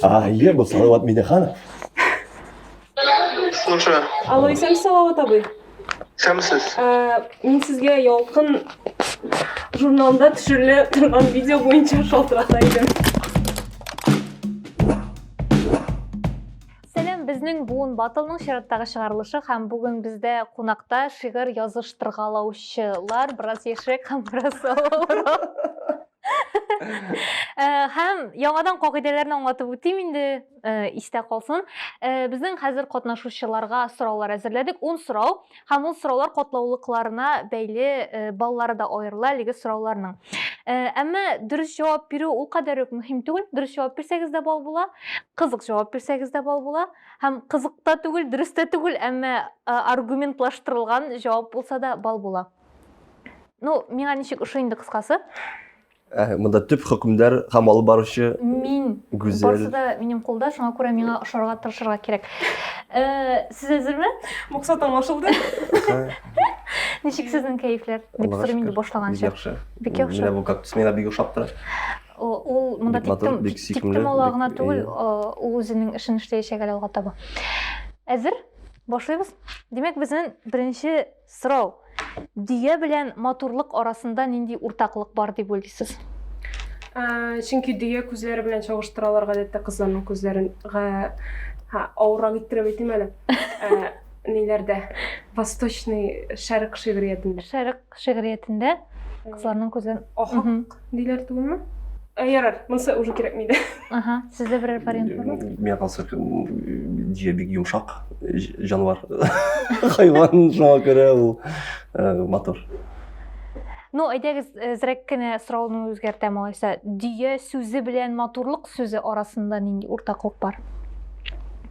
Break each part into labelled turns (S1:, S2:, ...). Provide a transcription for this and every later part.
S1: А, Илья был Салават Миниханов.
S2: Слушаю. Алло, исәнмесез Салават
S3: абый. Исәнмесез.
S2: Ә, Мин
S3: сезгә Ялкын журналында төшерелә торган видео буенча шалтырата идем.
S4: Сәлам, безнең буын батылның чираттагы чыгарылышы һәм бүген бездә кунакта шигырь языштыргалаучылар, бераз яшьрәк һәм бераз олорак. Һәм яңадан кагыйдәләрне аңлатып үтим инде, истә калсын. Безнең хәзер катнашучыларга сораулар әзерләдек, 10 сорау. Һәм ул сораулар катлаулыкларына бәйле баллары да аерыла әлеге сорауларның. Әмма дөрес җавап бирү ул кадәр үк мөһим түгел. Дөрес җавап бирсәгез дә бал була, кызык җавап бирсәгез дә бал була. Һәм кызык та түгел, дөрес тә түгел, әмма аргументлаштырылган җавап булса да бал була. ну миңа ничек ошый инде кыскасы ә,
S1: мында төп хөкемдар һәм алып баручы мин гүзәл
S4: барысы да
S1: минем кулда
S4: шуңа күрә миңа ошарга тырышырга кирәк э, сез әзерме максат аңлашылды ничек сезнең кәефләр дип сорыйм инде башлаганча бик яхшы бик яхшы
S1: менә бу кактус
S4: миңа бик ошап
S1: тора ул
S4: монда тиктем
S1: ала гына түгел ул
S4: үзенең эшен эшләячәк әле алга таба әзер башлыйбыз демәк безнең беренче Сорау, Дөя белән матурлык арасында нинди уртаклык бар дип уйлыйсыз?
S3: Чөнки дөя күзләре белән чагыштыралар гадәттә кызларның күзләрен. Ха, авыррак иттереп әйтим әле. Ниләрдә? Восточный шәрык шигъриятендә. Шәрык шигъриятендә
S4: кызларның күзләрен. Ахак Диләр
S3: түгелме? Ә, ярар, монысы уже кирәкми дә. Ага, сездә берәр
S4: вариант бармы? Миңа калса,
S1: җия бик йомшак җанвар. Хайван шуңа күрә ул матур.
S4: Ну, әйдәгез, зрәк кенә сорауны үзгәртәм алайса. Дөя сүзе белән матурлык сүзе арасында нинди уртаклык бар?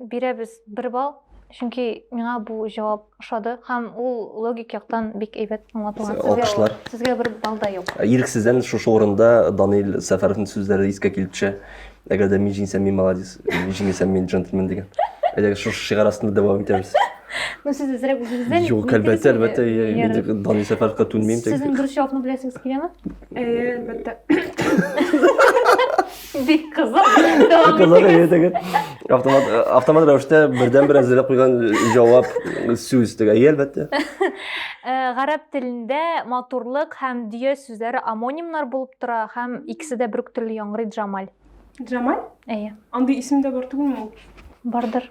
S4: бирәбез бер балл чөнки миңа бу җавап ошады һәм ул логик яктан бик әйбәт аңлатылган алкышлар сезгә бер
S1: балл да
S4: юк ә, ирексездән шушы
S1: урында данил сәфәровның сүзләре искә килеп төшә әгәр дә мин җиңсәм мин молодец мин җиңелсәм мин джентльмен дигән әйдәгез шушы шигарь астында дәвам итәбез ну сез әзрәк
S4: үзегездән юк әлбәттә әлбәттә
S1: мин дә данил сәфәровка түнмим сезнең дөрес җавапны беләсегез
S4: киләме әлбәттә Бик кызык. Бик кызык иде теге. Автомат э,
S1: автомат рәвештә бердәнбер әзерләп куйган җавап сүз теге. Әйе, әлбәттә. Э,
S4: гарәп телендә матурлык һәм дөя сүзләре амонимнар булып тора һәм икесе дә бер үк төрле яңгырый Джамаль. Джамаль?
S3: Әйе. Андый
S4: исем дә бар
S3: түгелме ул? Бардыр.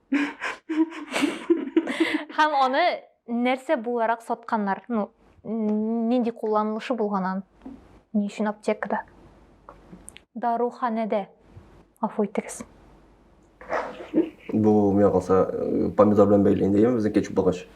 S4: Һәм аны нәрсә буларак сатканнар? Ну, нинди кулланылышы булган ан? Ни өчен аптекада? Даруханәдә. Афу итегез.
S1: Бу миңа калса э, помидор белән бәйле инде, яме безнең кетчуп булгач.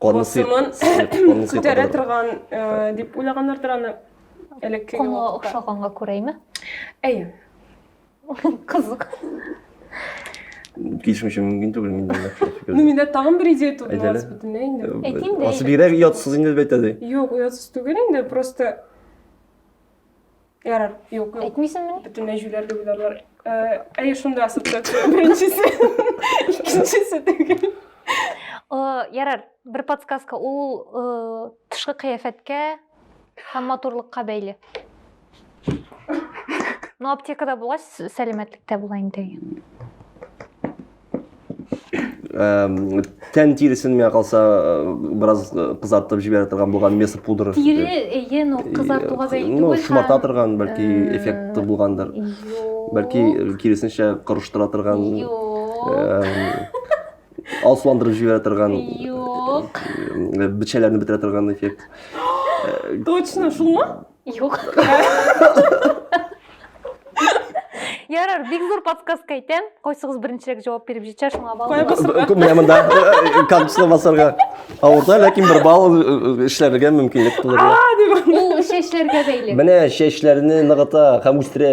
S3: Конысы күтәрә торган дип уйлагандырдыр аны элекке Конга охшаганга
S4: күрәме? Әйе. Кызык.
S1: Килешмичә мөмкин түгел мин дә фикер. Ну миндә тагын бер идея
S3: туды мас бөтенләй инде.
S1: Әйтим
S3: дә. Асы бигрәк
S4: ятсыз инде
S1: бит әди. Юк, ятсыз түгел
S3: инде, просто Ярар, юк, юк. Әйтмисеңме? Бөтенләй
S4: җүләр дип уйларлар.
S3: Э, әйе, шунда асыктыр. Беренчесе, икенчесе түгел.
S4: Ярар, бер подсказка. Ул э, тышкы кыяфәткә һәм матурлыкка бәйле. Ну, аптекада булгач, сәламәтлекдә була инде.
S1: тән тиресен миңа калса бераз кызартып җибәрә торган булган месо пудра тире әйе но
S4: кызартуга бәйле түгел ну шомарта торган
S1: бәлки эффекты булгандыр бәлки киресенчә корыштыра торган алсуландырып җибәрә торган юк
S4: бичәләрне
S1: бетерә торган эффект
S3: точно шулмы Юк.
S4: Ярар, бик зур подсказка әйтәм. Кайсыгыз беренчерәк җавап биреп җитә, шуңа балл. Кая басырга? Кү- Менә монда
S3: э,
S1: кактусны басарга авырта, ләкин бер балл э, э, эшләргә мөмкинлек тудырыла. Ул
S4: чәчләргә бәйле. Менә чәчләрне
S1: ныгыта һәм үстерә.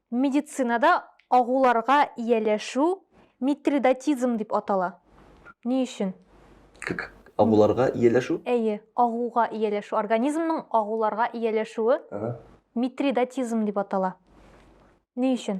S4: Медицинада агуларга ияләшү митридатизм дип атала. Ни өчен? К-к
S1: агуларга ияләшү? Әйе, агуга
S4: ияләшү. Организмның агуларга ияләшүе Ага. митридатизм дип атала. Ни өчен?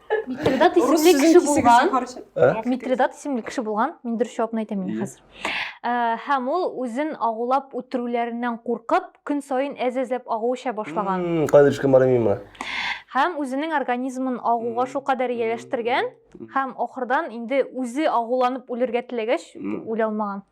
S4: Митридат исемле кеше булган. Ә? Митридат исемле кеше булган. Мин дөрес җавапны әйтәм инде хәзер. Ә, Һәм ул үзен агулап үтерүләреннән куркып, көн саен әз-әзләп агу эчә башлаган. М, Кайда төшкән бары миңа?
S1: Һәм үзенең
S4: организмын агуга шул кадәр ияләштергән һәм ахырдан инде үзе агуланып үлергә теләгәч, үлә алмаган.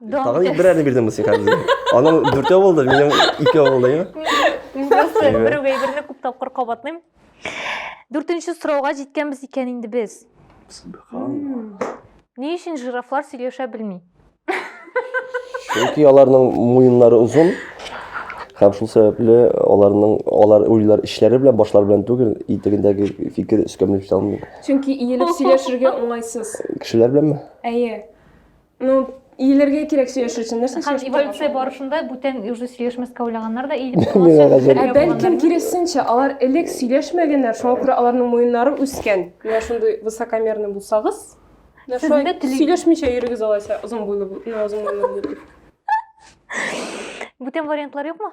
S4: Тагын Дом берәрне
S1: бирдеңме син хәзер? Аның дүртәү булды, минем икәү булды, я? Мин просто Әйбәт.
S4: берәүгә әйберне күп тапкыр кабатлыйм. Дүртенче сорауга җиткәнбез икән инде без. Ни өчен жирафлар сөйләшә белми?
S1: Чөнки аларның муеннары озын һәм шул сәбәпле аларның алар уйлар эчләре белән, башлары белән түгел, итегендәге фикер өскә менеп китә алмый. Чөнки иелеп
S3: сөйләшергә уңайсыз. Кешеләр беләнме?
S1: Әйе.
S3: Ну, иелергә кирәк сөйләшер өчен нәрсә Һәм эволюция барышында
S4: бүтән уже сөйләшмәскә уйлаганнар да иелеп торганнар. Бәлкем
S3: киресенчә, алар элек сөйләшмәгәннәр, шуңа күрә аларның муеннары үскән. Менә шундый высокомерный булсагыз, сөйләшмичә йөрегез алайса, озын буйлы, озын буйлы.
S4: Бүтән вариантлар юкмы?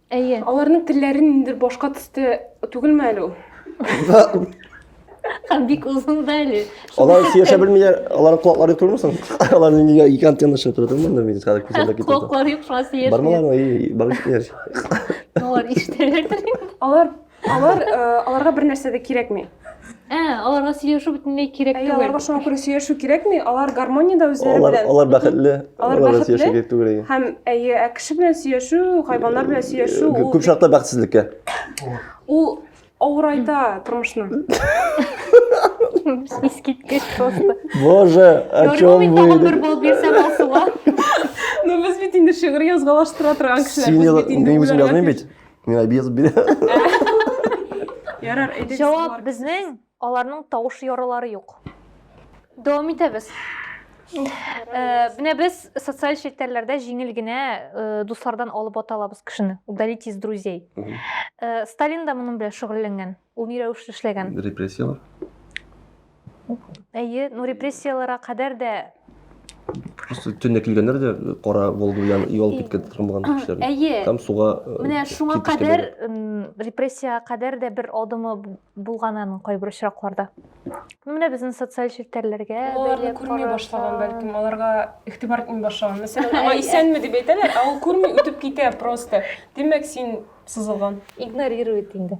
S1: Әйе. Аларның
S4: телләрен ниндер
S3: башка төстә түгелме әле ул?
S4: Һәм бик озын да әле. Алар сөйләшә белмиләр,
S1: аларның колаклары түгелме соң? Алар нигә ике антенна чыгып тора түгелме? Монда мин хәзер күзәлдә китә. Колаклары юк, шуңа сөйләшмиләр.
S4: Бармалар, ай, барып
S1: китәр. Алар
S4: иштеләрдер. Алар Алар
S3: э, аларга бер нәрсә дә кирәкми. Ә, аларга
S4: сөйләшү бөтенләй кирәк түгел. Аларга шуңа күрә сөйләшү
S3: кирәкми. Алар гармониядә үзләре белән. Алар бәхетле.
S1: Алар бәхетле.
S3: түгел.
S1: Һәм
S3: әйе,
S1: ә кеше
S3: белән сөйләшү, хайваннар белән сөйләшү ул күп чакта бәхетсезлеккә.
S1: Ул
S3: авырайта тормышны.
S4: Искиткеч просто. Боже, о
S1: чем вы? Тагын бер бал бирсәм
S4: алсуга. Ну
S3: без бит инде шигырь язгалаштыра торган кешеләр. Син инде үзең
S1: язмыйм
S3: бит. Мин
S1: обез бирә. Ярар,
S3: әйдәгез. Җавап безнең,
S4: аларның тавыш ярылары юк. Дәвам итәбез. Э, Менә без социаль челтәрләрдә җиңел генә э, дуслардан алып ата алабыз кешене. Удалить из друзей. Мгм. Э, Сталин да моның белән шөгыльләнгән. Ул ни рәвешле эшләгән? Репрессияләр. Әйе, ну репрессияләргә кадәр дә Просто
S1: төнлә килгәннәр дә кара Волга белән юл киткән тормаган кешеләр. Әйе. Там суга
S4: э, Менә
S1: шуңа
S4: кадәр репрессиягә кадәр дә бер адымы булган аның кайбер очракларда. Менә безнең социаль челтәрләргә аларны күрми
S3: башлаган бәлкем, аларга игътибар итми башлаган. Мәсәлән, аңа исәнме дип әйтәләр, ә ул күрми үтеп китә просто. Димәк, син сызылган. Игнорирует инде.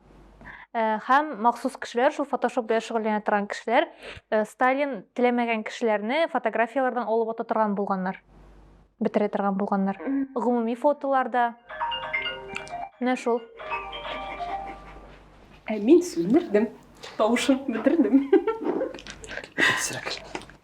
S4: һәм махсус кешеләр, шул фотошоп белән шөгыльләнә торган кешеләр, Сталин теләмәгән кешеләрне фотографияләрдән алып ата торган булганнар. Бетерә торган булганнар. Гомуми фотоларда. Менә шул.
S3: Ә мин сүндердем. Тавышын бетердем. Сирәк.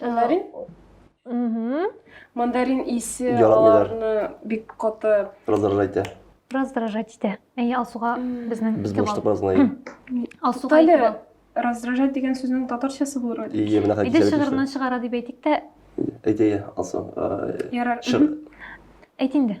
S4: Мандарин?
S3: Угу. Мандарин исе аларны
S1: бик
S3: каты раздражать итә.
S1: Раздражать итә.
S4: Әйе, Алсуга безнең Без булыштык бераз гына.
S1: Алсуга әле
S4: раздражать дигән
S3: сүзнең татарчасы булыр иде. Ие, менә хәкимәт. Иде шигыреннән
S1: чыгара дип
S4: әйтик тә. Әйтәйе,
S1: Алсу. Ярар.
S4: Әйт инде.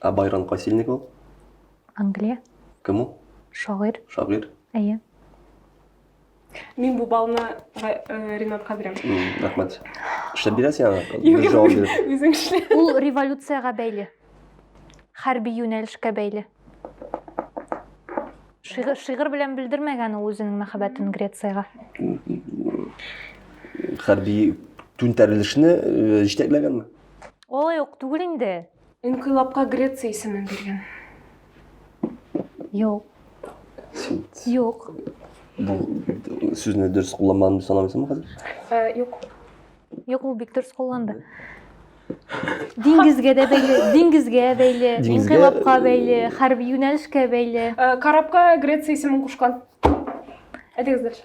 S4: Ә Байрон Касильник
S1: ул? Англия.
S4: Кем ул?
S1: Шагыйрь. Шагыйрь.
S4: Әйе.
S3: Мин бу балны э, Ринатка бирәм. Рәхмәт.
S1: Эшләп бирәсең аны? Бер җавап биреп.
S3: Үзең
S1: эшлә. Ул
S3: революциягә
S4: бәйле. Хәрби юнәлешкә бәйле. Шигырь, шигырь белән белдермәгән ул үзенең мәхәббәтен Грециягә.
S1: Хәрби түнтәрелешне э, җитәкләгәнме? Алай ук
S4: түгел инде. Инкыйлабка
S3: Греция исемен биргән.
S4: Юк. Юк. Бу
S1: сүзне дөрес кулланмадым дип санамыйсыңмы хәзер? Юк.
S3: Юк,
S4: ул бик дөрес кулланды. Диңгезгә дә бәйле, диңгезгә бәйле, инкыйлабка
S1: бәйле,
S4: хәрби юнәлешкә бәйле. Карабка Греция
S3: исемен кушкан. Әйтегез дөрес.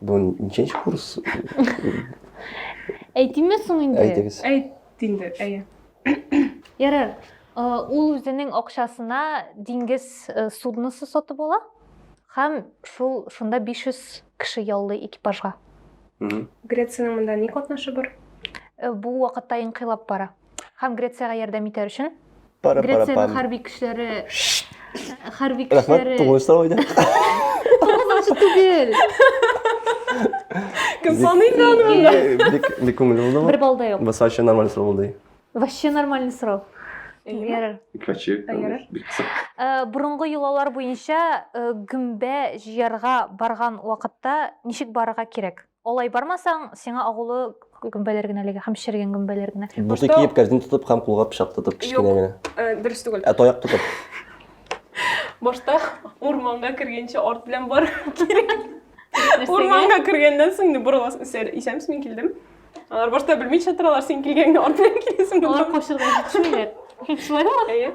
S1: Бу ниченче курс?
S4: Әйтимме соң инде? Әйтегез. Әйт
S1: инде,
S3: әйе. Ярар.
S4: Ул үзенең акчасына диңгез судносы сатып ала һәм шул шунда 500 кеше яллый экипажга.
S3: Грециянең монда ни катнашы бар? Бу
S4: вакытта инкыйлаб бара. Һәм Грециягә ярдәм итәр өчен Грециянең хәрби көчләре хәрби
S1: көчләре. Рәхмәт, тугыз сорау иде. Тугыз
S4: түгел.
S3: Кем саный икән моны? Бик бик күңелле булды.
S1: Бер балда юк. Баса өчен
S4: нормаль сорау булды.
S1: Вообще нормальный
S4: сорау. Ярар. Икаче. Бурынгы юлалар буенча гөмбә җыярга барган вакытта ничек барырга кирәк? Алай бармасаң, сиңа агулы гөмбәләр генә эләгә һәм шергән гөмбәләр генә. Буты киеп, кәрзин тотып
S1: һәм кулга пычак тотып кечкенә генә. Э, дөрес түгел. Ә таяк
S3: тотып. Башта урманга кергәнче арт белән бар кирәк. Урманга кергәннән соң инде борыласың, үсәр. Исәнмесез, мин килдем. Алар башта белмичә торалар, син килгәнгә арт белән киләсең. Алар качырга җитешмиләр.
S4: Шулай ма? Әйе.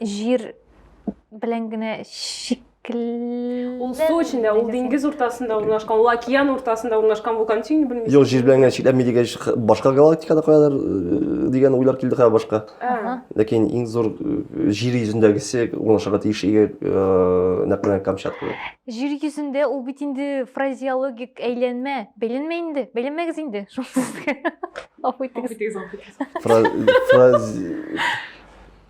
S4: җир белән генә шикелле. Ул
S3: су эчендә, ул диңгез уртасында урнашкан, ул океан уртасында урнашкан вулкан син белмисең. Юк, җир белән генә чикләнми
S1: дигәч, башка галактикада каядыр э, дигән уйлар килде хәзер башка. Ләкин иң зур э, җир йөзендәгесе урнашырга тиеш иге э, нәкъ менә Камчатка. Җир йөзендә
S4: ул бит инде фразеологик әйләнмә. Бәйләнмә инде, бәйләнмәгез инде.
S1: Шунсыз. Афу итегез.
S4: Фраз...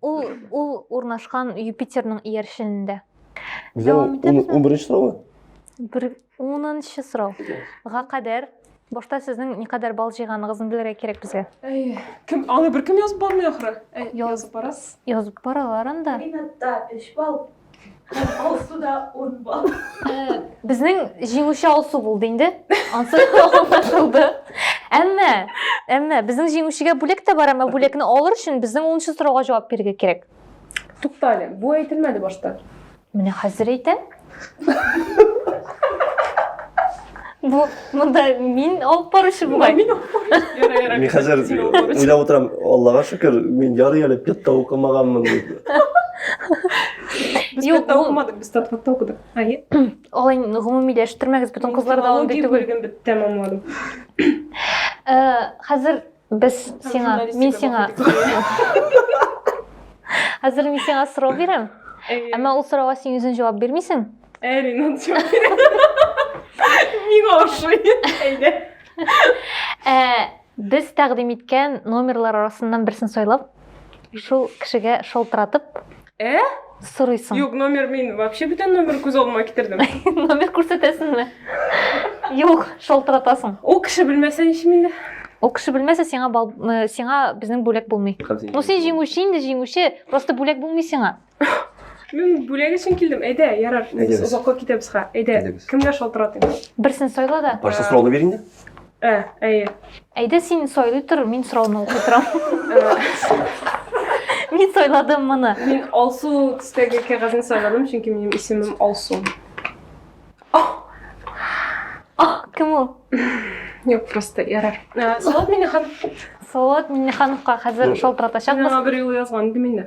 S1: Ул ул
S4: урнашкан Юпитерның иярченендә. Дәвам
S1: итәбез. 11 сорау. Бер
S4: 10нчы сорау. Га кадәр башта сезнең никадәр бал җыйганыгызны белергә кирәк безгә. Әй, кем аны
S3: беркем язып бармый ахры. Язып барасыз.
S4: Язып
S3: баралар
S4: анда. Минутта 3 балл.
S2: Алсу да он балл. Э,
S4: Безнең җиңүче Алсу булды инде. Ансы аңлашылды. Әмма, әмма безнең җиңүчегә бүләк тә бар, әмма бүләкне алыр өчен безнең 10 сорауга җавап бирергә кирәк. Туктале,
S3: бу әйтелмәде башта. Менә хәзер
S4: әйтәм. Бу монда мин алып баручы бугай. Мин алып баручы.
S1: Мин хәзер уйлап утырам, Аллага шөкер, мин ярый әле пятта укымаганмын
S3: дип. Без пятта укымадык, без татватта укыдык. Ай. Алай
S4: гомумиләштермәгез, бүтән кызлар да андый түгел. Мин тәмамладым.
S3: Э,
S4: хәзер Без сиңа, мин сиңа. Хәзер мин сиңа сорау бирәм. Әмма ул сорауга син үзең җавап бирмисең. Эрина
S3: җавап Миңа ошый. Әйдә. Ә
S4: без тәкъдим иткән номерлар арасыннан берсен сайлап, шул кешегә шалтыратып, Ә? Сорыйсың. Юк, номер мин
S3: вообще бүтән номер күз алдыма китердем. номер күрсәтәсеңме?
S4: Юк, шалтыратасың. Ул кеше белмәсә
S3: ничем инде? Ул кеше белмәсә
S4: сиңа бал, э, сиңа безнең бүләк булмый. Ну син җиңүче инде, җиңүче, просто бүләк булмый сиңа. Мин
S3: бүләк өчен килдем. Әйдә, ярар. Без озакка китәбез ха. Әйдә. Кемгә шалтыратыйм? Берсен сайла да.
S4: Барса сорауны бир инде.
S1: Ә, әйе.
S3: Әйдә син
S4: сайлый тор, мин сорауны укый торам. Мин сайладым моны. Мин Алсу
S3: төстәге кәгазьне сайладым, чөнки минем исемем Алсу.
S4: Ах, кем ул? Юк,
S3: просто ярар. Салат Миннеханов. Салават
S4: Миннехановка хәзер шалтыратачакбыз. Миңа бер юл язган иде
S3: мине.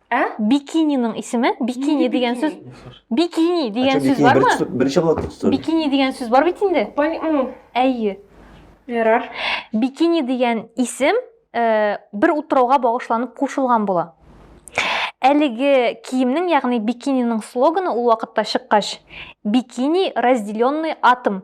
S4: Ә? Бикининың исеме? Бикини дигән сүз. Бикини дигән сүз бармы? Беренче булып тотты. Бикини
S1: дигән сүз бар бит
S4: инде. Әйе. Ярар.
S3: Бикини
S4: дигән исем э, бер утрауга багышланып кушылган була. Әлеге киемнең, ягъни бикининең слоганы ул вакытта чыккач, бикини разделенный атом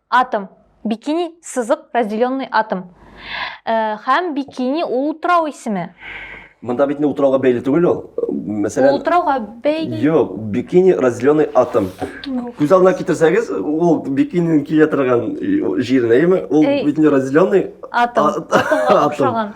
S4: Атом. Бикини, сызык, разделенный атом. Һәм бикини ул утрау исеме. Монда бит
S1: утрауга бәйле түгел ул. Мәсәлән, утрауга бәйле.
S4: Юк, бикини
S1: разделенный атом. Күз алдына китерсәгез, ул бикининең килә торган җиренә, яме, ул бит разделенный атом. Атомга
S4: охшаган.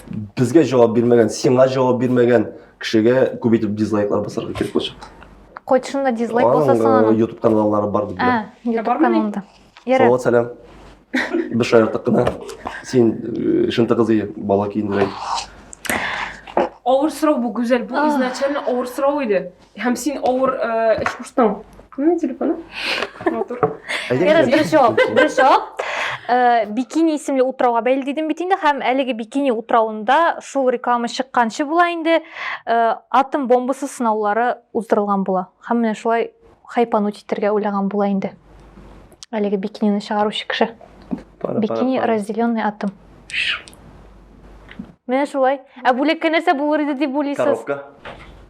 S1: Безгә җавап бирмәгән, сиңа җавап бирмәгән кешегә күп итеп дизлайклар басарга кирәк булачак. Кайчында
S4: дизлайк булса соң аның. YouTube каналлары бар дип
S1: беләм. YouTube каналында.
S4: Салават сәлам.
S1: Без шаярттык кына. Син шынты кызы бала киендерәй.
S3: Авыр сорау бу, Гүзәл. Бу изначально авыр сорау иде. Һәм син авыр э, эш куштың. Кемнең телефоны? Матур. Ярас,
S4: беренче җавап. Беренче җавап. Э, бикини исемле утрауга бәйле дидем бит инде һәм әлеге бикини утравында шул реклама чыкканчы була инде э, атом бомбасы сынаулары уздырылган була. Һәм менә шулай хайпану китергә уйлаган була инде. Әлеге бикинины чыгаручы кеше. Бикини разделенный атом. Менә шулай. Ә бүлеккә нәрсә булыр иде дип уйлыйсыз? Коробка.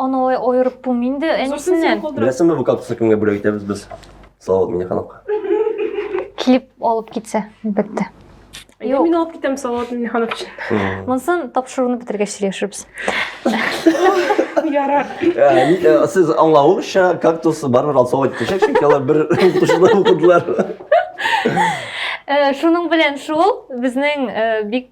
S3: Аны алай
S1: аерып
S4: булмый инде әнисеннән. Беләсеңме, бу кактусны
S1: кемгә бүләк итәбез без? Салават Миннехановка. Килеп
S4: алып китсә, әлбәттә. Әйдә мин
S3: алып китәм Салават Миннеханов өчен. Монсын тапшыруны
S4: бетергәч сөйләшербез.
S3: Ярар. Ә, Сез
S1: аңлавыгызча, кактус барыбер алсалар китәчәк, чөнки алар бер укытучыда укыдылар. Э,
S4: шуның белән шул безнең э, бик